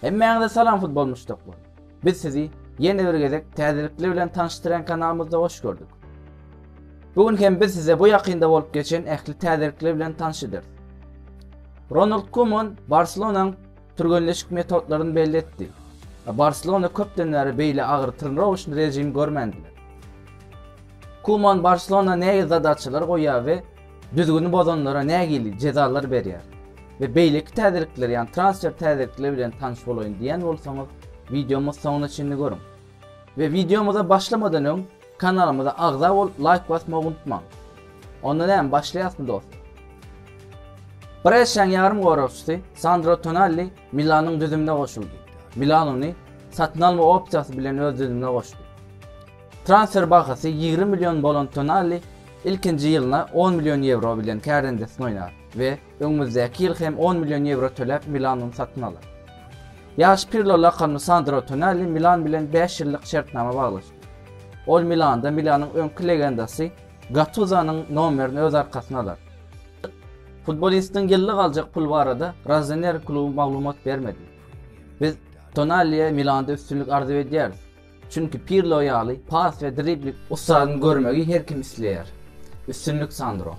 Hemmäňize salam futbol muşdaklary. Biz sizi ýene bir gezek täzelikler bilen tanyşdyran kanalymyzda hoş gördük. Bu gün hem biz size bu ýakynda bolup geçen ähli täzelikler bilen tanyşdyr. Ronald Koeman Barselonanyň Türgenleşik metodlaryny belli etdi. Barselona köpden bäri beýle agyrtyryny rowaçly režim görmändi. Kuman Barselona näge zadaçalar goýýar we düzgüni bozanlara nägili jezalar berýär? We beýleki täzelikler, ýagny transfer täzelikleri bilen tanyş bolaýyn diýen bolsaňyz, wideomyzy soňuna çenli görüň. We wideomyza başlamadan öň, Kanalymyza agza bolup laýk basmagy unutmaň. Onda näme başlaýasmy dost. Bresşäň ýarym goragçysy Sandro Tonalli Milanyň düzümine goşuldy. Milan ony satyn alma opsiýasy bilen öz düzümine goşdy. Transfer bahasy ýigrimi million bolan Tonalli ilkinji ýylyna on million ýewro bilen kärendesini oýnar we öňümizdäki ýyl hem on million ýewro töläp Milan ony satyn alar. Ýaş Pirlo lakamly Sandro Tonalli Milan bilen bäş ýyllyk şertnama baglaşdy. Ol Milanda Milanyň öňki legendasy Gatuzonyň nomerini öz arkasyna alar. Futbolistiň ýyllyk aljak puly barada Rozeneri kluby maglumat bermedi. Biz Tonaliä Milanda üstünlik arzuw edýäris, çünki Pirlo ýaly pas we dribling ussadyny görmegi her kim isleýär. Üstünlik Sandro!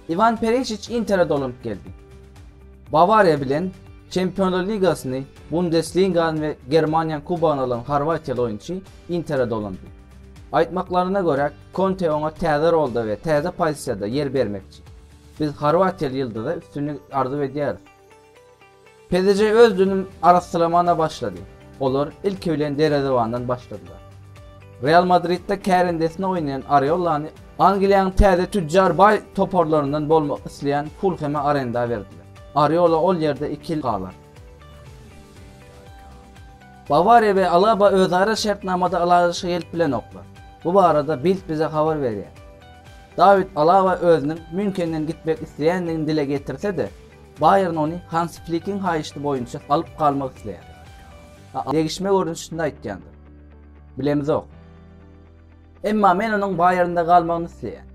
Iwan Perišiç Intere dolanyp geldi. Bawariýa bilen Çempionlar ligasyny, Bundesligany we Germaniýanyň kubogyny alan horwatiýaly oýunçy Intere dolandy. Aýtmaklaryna görä, Konte oňa täze rolda we täze pozisiýada ýer bermekçi. Biz horwatiýaly ýyldyza üstünlik arzuw edýäris. PDJ öz dünüm arassalamana başlady. Olar ilki bilen derezebandan başladylar. Real Madridde kärendesine oýnaýan Areolany Angliýanyň täze tüjjar baý toparlaryndan bolmak isleýän Fulheme arenda berdiler. Areola ol ýerde iki ýyl galar. Bawariýa we Alaba özara şertnamada ylalaşyga gelip bilenoklar. Bu barada Bild bize habar berýär. Dawid Alaba özüniň Mýunhenden gitmek isleýändigini dile getirse-de, Baýern ony Hansi Flikiň haýyşty boýunça alyp galmak isleýär. A degişme görnüşinde aýtýandyr. Bilemizok. Emma men onuň Baýernde galmagyny isleýän.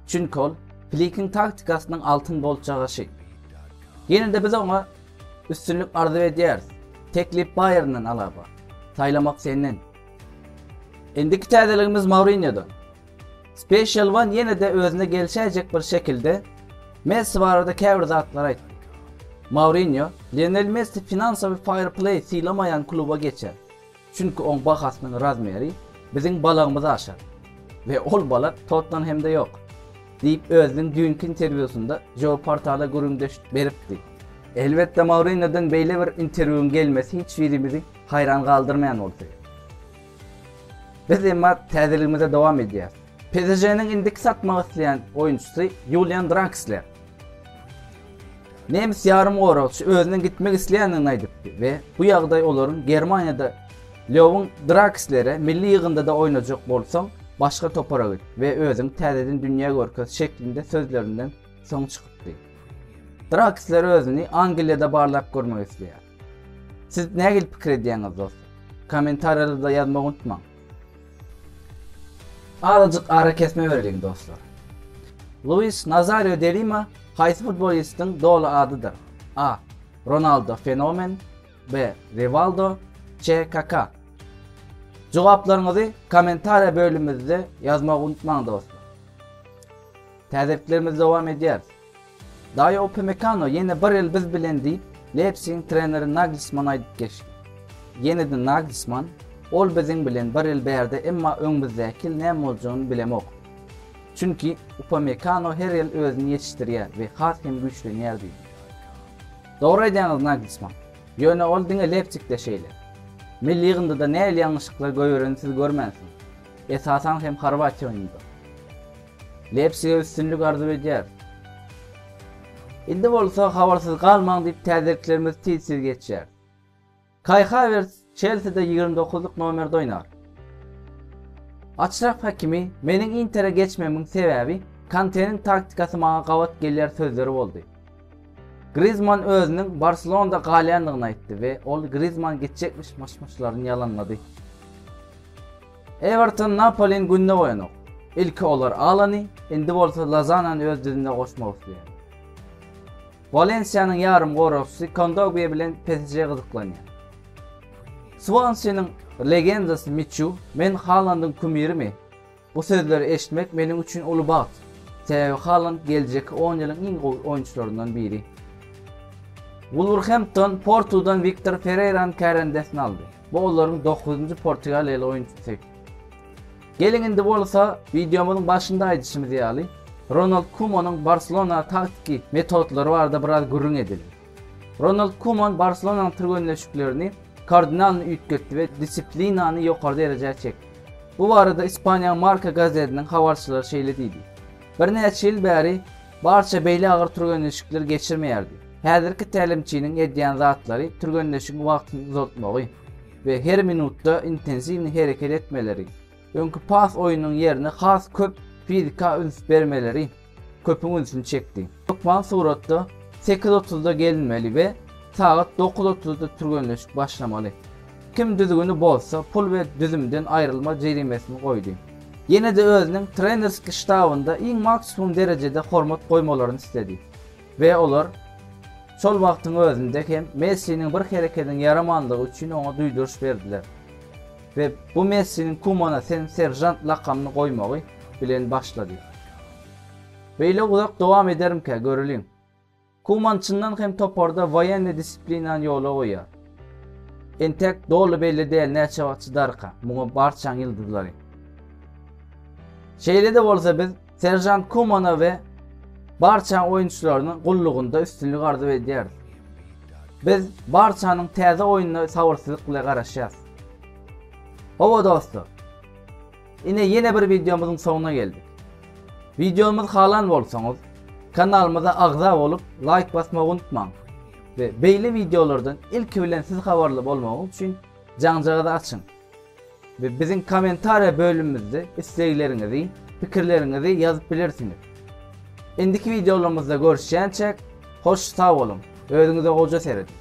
Çünki ol Flikiň taktikasynyň altyn bolçagaşy. Ýene-de biz oňa üstünlik arzuw edýäris. Teklip Baýernden Alaba. Saýlamak senden. Indiki täzeligimiz Mourinýodan. Special One ýene-de özüne gelişäýjek bir şekilde Messi barada käbir zatlary aýtdy. Mourinýo, Lionel Messi finansawy fair-play sylamaýan kluba geçer, çünki oň bahasynyň razmeri biziň balagymyzy aşar we ol balag Tottenhemde ýok, diýip özüniň düýnki interwýusynda Joe portala gürrüňdeş beripdi. Elbetde Mourinýodan beýle bir interwýuň gelmesi hiç birimizi haýran galdyrmaýan bolsa gerek. Biz emma täzeligimize dowam edýäris. PSŽ-niň indiki satmak isleýän oýunçysy Ýulian Draksler. Nemes ýarymgoragçy özüniň gitmek isleýändigini aýdypdy we bu ýagdaý olaryň Germaniýada Lýowyň Drakslere milli ýygyndyda oýnajak bolsaň, başga topara git we özüňi täzeden dünýä görkez şeklinde sözlerinden soň çykypdy. Draksler özüni Angliýada barlap görmek isleýär. Siz nähili pikir edýäňiz dostlar? Kommentariýalarda ýazmagy unutmaň. Azajyk arakesme bereliň dostlar. Luis Nazario de Lima haýsy futbolistiň doly adydyr? A. Ronaldo Fenomen B. Rivaldo C. Kaka Jogaplaryňyzy kommentariýa bölümimizde ýazmagy unutmaň dostlar. Täzeliklerimiz dowam edýär. Daýo Upamekano ýene bir ýyl biz bilen diýip, Leipsigiň treneri Nagelsmana aýdyp geçdi. Ýene-de Nagelsman, Ol biziň bilen bir ýyl bärde, emma öňümizdäki ýyl näme boljagyny bilemok. Çünki Upamekano her ýyl özüni ýetişdirýär we has hem güýçlenýär diýdi. Dogry aýdýaňyz Nagelsman. Ýöne ol diňe Leipsigde şeýle. Milli ýygyndyda nähili ýalňyşlyklar goýbereni siz görmänsiňiz. Esasan hem Horwatiýa oýnunda. Lep size üstünlik arzuw edýäris. Indi bolsa habarsyz galmaň diýip täzeliklerimiz tiz tiz geçýär. Kai Havertz Çelside ýigrimi dokuzlyk nomerde oýnar. Açraf Hakimi meniň Intere geçmemiň sebäbi Kanteniň taktikasy maňa gabat gelýär sözleri boldy. Grizman özüniň Barselonada galýandygyny aýtdy we ol Grizman gitjekmiş myş-myşlaryny ýalanlady. Ewerton Napoliň gününe goýanok. Ilki olar Alany, indi bolsa Lozanany öz düzümine goşmak isleýär. Walensiýanyň ýarymgoragçysy Kondogbia bilen PSJ gyzyklanýar. Swansiniň legendasy Miçu, Men Halandyň kumyrimi. Bu sözleri eşitmek meniň üçin uly bagt. Sebäbi Haland geljekki on ýylyň iň gowy oýunçylaryndan biri. Wulwerhempton Portudan Wiktor Ferreýrany kärendesine aldy. Bu olaryň dokuzynjy portugaliýaly oýunçysy. Geliň indi bolsa, wideomyzyň başynda aýdyşymyz ýaly, Ronald Kumanyň Barselona taktiki metodlary barada biraz gürrüň edeliň. Ronald Kuman Barselonanyň türgenleşiklerini kardinalny üýtgetdi we disiplinany ýokary derejä çekdi. Bu barada Ispaniýanyň Marca gazetiniň habarçylary şeýle diýdi, Birnäçe ýyl bäri Barça beýle agyr türgenleşikleri geçirmeýärdi. Häzirki tälimçiniň edýän zatlary türgenleşigiň wagtyny uzaltmagy we her minutda intensiwni hereket etmeleri, öňki pas oýnunyň ýerine has köp fizika üns bermeleri köpüň ünsüni çekdi. Hökman suratda sekiz otuzda gelinmeli we sagat dokuz otuzda türgenleşik başlamaly. Kim düzgüni bozsa, pul we düzümden aýrylma jerimesini goýdy. Ýene-de özüniň trenerski ştabynda iň maksimum derejede hormat goýmalaryny isledi. We olar şol wagtyň özünde hem Messiniň bir herekediň ýaramanlygy üçin oňa duýduryş berdiler. We bu Messiniň Kumana sen seržant lakamyny goýmagy bilen başlady. Beýle uzak dowam edermkä, göreliň. Kuman çyndan hem toparda woýenni disiplinany ýola goýýar. Entek doly belli däl näçe wagt çydarka muňa barçaň ýyldyzlary. Şeýle-de bolsa biz Serjant Kumana we barçaň oýunçylaryna gullugynda üstünlik arzuw edýäris. Biz barçanyň täze oýnuna sabyrsyzlyk bilen garaşýas. Howa dostlar. Ine ýene bir wideomyzyň soňuna geldik. Wideomyzy halan bolsaňyz, kanalymyza agza bolup, laýk basmagy unutmaň. We beýle wideolardan ilki bilen siz habarly bolmagyňyz üçin jaňjagyzy açyň. Biziň kommentariýa bölümimizde islegleriňizi, pikirleriňizi ýazyp bilersiňiz. Indiki wideolarymyzda görüşýänçäk, hoş sag boluň, özüňize goja serediň!